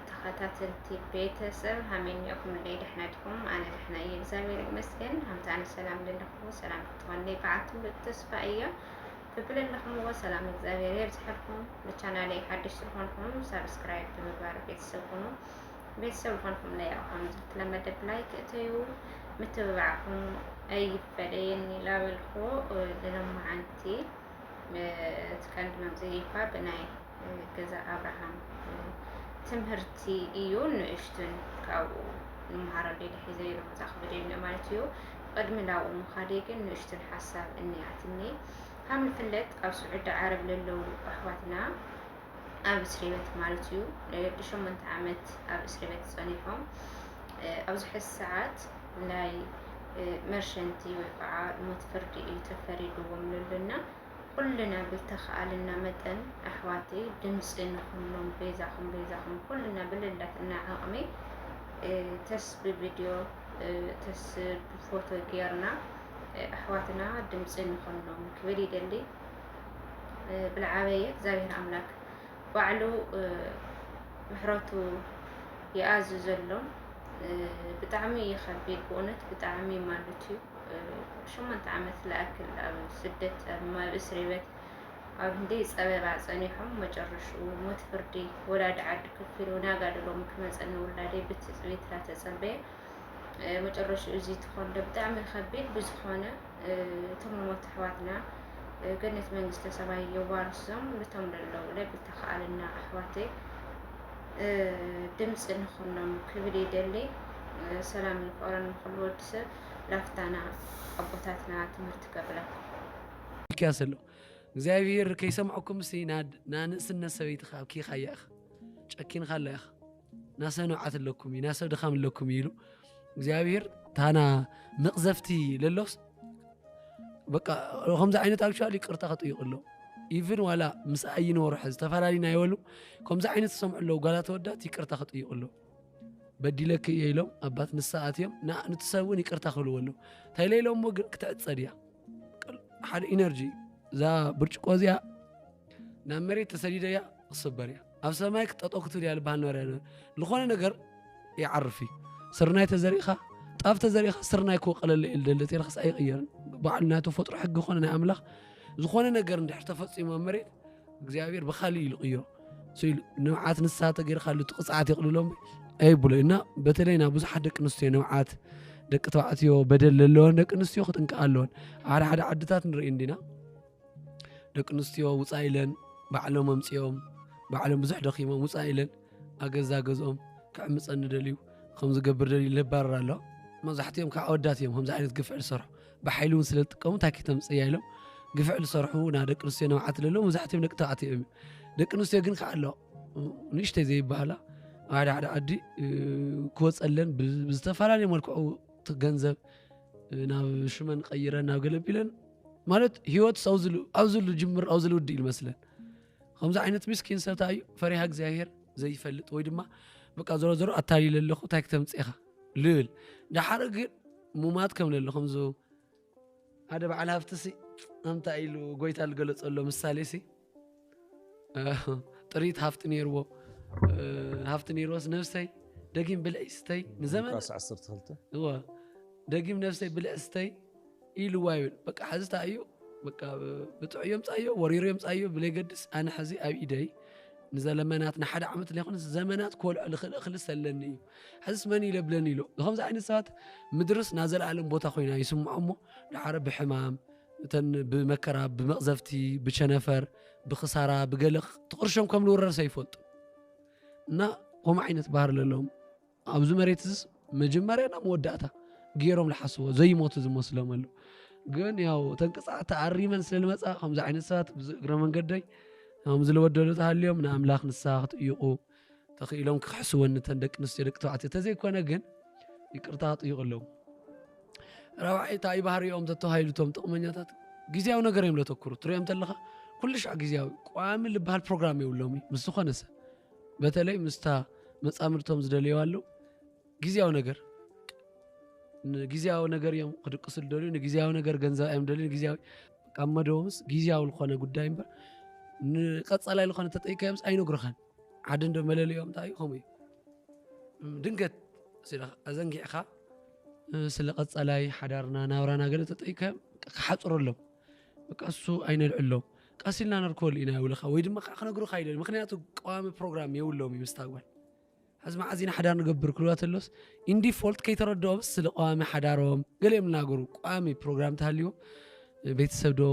ተኸታተልቲ ቤተሰብ ሃመን እኹም ደይ ደሕና ድኹም ኣነ ደሕና እየ እግዚኣብሔር ይመስገን ሃምታ ኣነ ሰላም ዘለኹዎ ሰላም ክትኾኒ በዓቱ ተስፋ እዮ ብብል ኣለኹምዎ ሰላም እግዚኣብሔር የብዝሐልኩም ንቻናለይ ሓድሽ ዝኾንኩም ሳብስክራይብ ብምግባር ቤተሰብ ኩኑ ቤተሰብ ዝኾንኩምለይ ያው ከም ዝተለመደ ብላይክ እተዩ ምትብባዕኩም ኣይፈለየኒ ላበልኩ ዝለማዓንቲ ትቀንዲ መምፅኢ እኳ ብናይ ገዛ ኣብርሃም ትምህርቲ እዩ ንእሽቱን ካብኡ ንምሃሮ ዴደ ሒዘ ኢሉ መፅኣ ክብደኒ ማለት እዩ ቅድሚ ናብኡ ምኻደ ግን ንእሽቱን ሓሳብ እኒኣትኒ ካብ ንፍለጥ ኣብ ስዑዲ ዓረብ ለለዉ ኣሕዋትና ኣብ እስሪ ቤት ማለት እዩ ንሸሞንተ ዓመት ኣብ እስሪ ቤት ፀኒሖም ኣብዚ ሕዚ ሰዓት ናይ መርሸንቲ ወይ ከዓ ሞት ፍርዲ እዩ ተፈሪድዎም ልልና ኩልና ብተኸኣልና መጠን ኣሕዋቲ ድምፂ ንኹሎም ቤዛኹም ቤዛኹም ኩልና ብልላትና ዓቕሚ ተስ ብቪድዮ ተስ ብፎቶ ጌርና ኣሕዋትና ድምፂ ንኹሎም ክብል ይደሊ ብልዓበየ እግዚኣብሔር ኣምላክ ባዕሉ ምሕረቱ ይኣዝ ዘሎ ብጣዕሚ እዩ ከቢድ ብእውነት ብጣዕሚ ማለት እዩ ሸሞንተ ዓመት ልኣክል ኣብ ስደት ኣብ እስሪ ቤት ኣብ ህንዲ ፀበባ ፀኒሖም መጨረሽኡ ሞት ፍርዲ ወላዲ ዓዲ ከፊሉ ናጋድሎም ክመፀኒ ውላደይ ብትፅቢት ተፀበየ መጨረሽኡ እዚ ትኾን ዶ ብጣዕሚ ከቢድ ብዝኾነ እቶም መሞት ኣሕዋትና ገነት መንግስተ ሰማይ የዋርሶም ልቶም ለለዉ ላይ ብተኸኣልና ኣሕዋተይ ድምፂ ንኹኖም ክብል ይደሊ ሰላም ይቀረን ንኩሉ ወዲ ሰብ ላፍታና ኣቦታትና ትምህርቲ ከብለን ሚልክያስ ኣሎ እግዚኣብሄር ከይሰምዐኩም ሲ ናድ ንኣንእስነት ሰበይትኻ ኣብኪኻያ ኢኻ ጨኪንኻላ ኢኻ ናሰብ ንብዓት ኣለኩም እዩ ናሰብ ድኻም ኣለኩም እዩ ኢሉ እግዚኣብሔር ታና መቕዘፍቲ ለሎስ በቃ ከምዚ ዓይነት ኣክቹዋሊ ይቅርታ ክጥይቅ ኣሎ ኢቭን ዋላ ምስ ኣይኒ ወርሐ ዝተፈላለዩና ይበሉ ከምዚ ዓይነት ዝሰምዑ ኣለዉ ጓላት ወዳት ይቅርታ ክጥይቅ ኣሎ በዲለክ እየ ኢሎም ኣባት ንሳ ኣትዮም ንእቲ ሰብ እውን ይቅርታ ክብልዎ ኣለዉ እንታይ ለኢሎሞ ግን ክትዕፀድ እያ ሓደ ኢነርጂ እዛ ብርጭቆ እዚኣ ናብ መሬት ተሰዲደ እያ ክስበር እያ ኣብ ሰማይ ክጠጠው ክትብል እያ ልባሃል ነበረ ዝኾነ ነገር ይዓርፍ እዩ ስርናይ ተዘሪእኻ ጣፍ ተዘሪእኻ ስርናይ ክወቀለለ እዩ ልደለ ቴልኻስ ኣይቕየርን በዓል ናይ ተፈጥሮ ሕጊ ኮነ ናይ ኣምላኽ ዝኾነ ነገር እንድሕር ተፈፂሙ ኣብ መሬት እግዚኣብሔር ብካሊእ ኢሉ ቅይሮ ስኢሉ ንብዓት ንሳ ተገይርካሉ እቲ ቅፅዓት የቕልሎም ኣይብሎ እና በተለይ ናብ ብዙሓት ደቂ ኣንስትዮ ንብዓት ደቂ ተባዕትዮ በደል ዘለወን ደቂ ኣንስትዮ ክጥንቀቃ ኣለወን ሓደ ሓደ ዓድታት ንርኢ እንዲና ደቂ ኣንስትዮ ውፃእ ኢለን ባዕሎም ኣምፂኦም ባዕሎም ብዙሕ ደኺሞም ውፃእ ኢለን ኣገዛ ገዝኦም ክዕምፀኒ ደልዩ ከምዝገብር ደልዩ ለባረር ኣሎ መብዛሕትኦም ከዓ ኣወዳት እዮም ከምዚ ዓይነት ግፍዕ ዝሰርሑ ብሓይሊ እውን ስለ ዝጥቀሙ እንታይ ከተምፅያ ኢሎም ግፍዕ ዝሰርሑ ና ደቂ ኣንስትዮ ንብዓት ለለዉ መብዛሕትኦም ደቂ ተባዕትዮ እዮም ደቂ ኣንስትዮ ግን ከዓ ኣሎ ንእሽተይ ዘይበሃላ ኣብ ሓደ ሓደ ዓዲ ክወፀለን ብዝተፈላለዩ መልክዑ ገንዘብ ናብ ሽመን ቀይረን ናብ ገለቢለን ማለት ህይወትስ ኣውዝሉ ኣውዝሉ ጅምር ኣውዝሉ ውድእ ይመስለን ከምዚ ዓይነት ምስኪን ሰብ እንታይ እዩ ፈሪሃ እግዚኣብሄር ዘይፈልጥ ወይ ድማ በቃ ዞሮ ዞሮ ኣታሊለ ኣለኹ እንታይ ክተምፅኻ ልብል ዳሓር ግን ሙማት ከም ለለ ከምዚ ሓደ በዓል ሃፍቲ ሲ ኣንታይ ኢሉ ጎይታ ዝገለፀሎ ምሳሌ ሲ ጥሪት ሃፍቲ ነይርዎ ሃፍቲ ነይርዎስ ነብሰይ ደጊም ብልዒ ስተይ ንዘመን ሉቃስ 12 እወ ደጊም ነብሰይ ብልዒ ስተይ ኢልዋ ይብል በቃ ሕዚ እንታይ እዩ በቃ ብጥዑዮ ምፃዮ ወሪሮ ምፃዮ ብለይገድስ ኣነ ሕዚ ኣብ ኢደይ ንዘለመናት ንሓደ ዓመት ለይኮነ ዘመናት ኮልዖ ልኽእል እኽሊ ሰለኒ እዩ ሕዝስ መን ይለብለኒ ኢሎ ንከምዚ ዓይነት ሰባት ምድርስ ናዘለኣለም ቦታ ኮይና ይስምዖ እሞ ድሓረ ብሕማም እተን ብመከራ ብመቕዘፍቲ ብቸነፈር ብክሳራ ብገለቕ ትቕርሾም ከም ልውረርሰ ይፈልጡ እና ከምኡ ዓይነት ባህር ለለዎም ኣብዚ መሬት ዝስ መጀመርያ ናብ መወዳእታ ገይሮም ዝሓስቦ ዘይሞቱ ዝመስሎም ኣሉ ግን ያው እተን ቅፅዓት ተኣሪመን ስለ ዝመፃ ከምዚ ዓይነት ሰባት እግረ መንገደይ ከምዚ ዝለወደሉ ተሃልዮም ንኣምላኽ ንስሓ ክትጥይቑ ተኽኢሎም ክኽሕስወን እተን ደቂ ኣንስትዮ ደቂ ተባዕትዮ ተዘይኮነ ግን ይቅርታ ክጥይቕሎም ራብዓይ እንታይ እዩ ባህሪኦም ተተባሂሉ እቶም ጥቕመኛታት ግዜያዊ ነገር እዮም ዘተኩሩ ትሪኦም ተለኻ ኩሉ ሻዕ ግዜያዊ ቋሚ ዝበሃል ፕሮግራም የብሎም እዩ ምስ ዝኾነ ሰብ በተለይ ምስታ መፃምድቶም ዝደልየዋ ኣለዉ ግዜያዊ ነገር ንግዜያዊ ነገር እዮም ክድቅሱ ዝደልዩ ንግዜያዊ ነገር ገንዘብ እዮም ደልዩ ንግዜያዊ ካብ መደቦምስ ግዜያዊ ዝኾነ ጉዳይ እምበር ንቀፃላይ ዝኾነ ተጠይቀዮምስ ኣይነግሩኻን ሓደ እንዶ መለለዮም እንታይ እዩ ከምኡ እዩ ድንገት ኣዘንጊዕኻ ስለ ቀፃላይ ሓዳርና ናብራና ገለ ተጠይካዮም ክሓፅረሎም በቃ እሱ ኣይነልዕሎም ቀስ ኢልና ነርከበሉ ኢና ይብልኻ ወይ ድማ ከዓ ክነግሩካ ይደል ምክንያቱ ቀዋሚ ፕሮግራም የብሎም እዩ ምስታ ጓል ሕዚ መዓዝ ኢና ሓዳር ንገብር ክልዋ ተሎስ ኢንዲፎልት ከይተረድኦምስ ስለ ቀዋሚ ሓዳሮም ገለ እዮም ዝናገሩ ቋሚ ፕሮግራም ተሃልዎ ቤተሰብ ዶ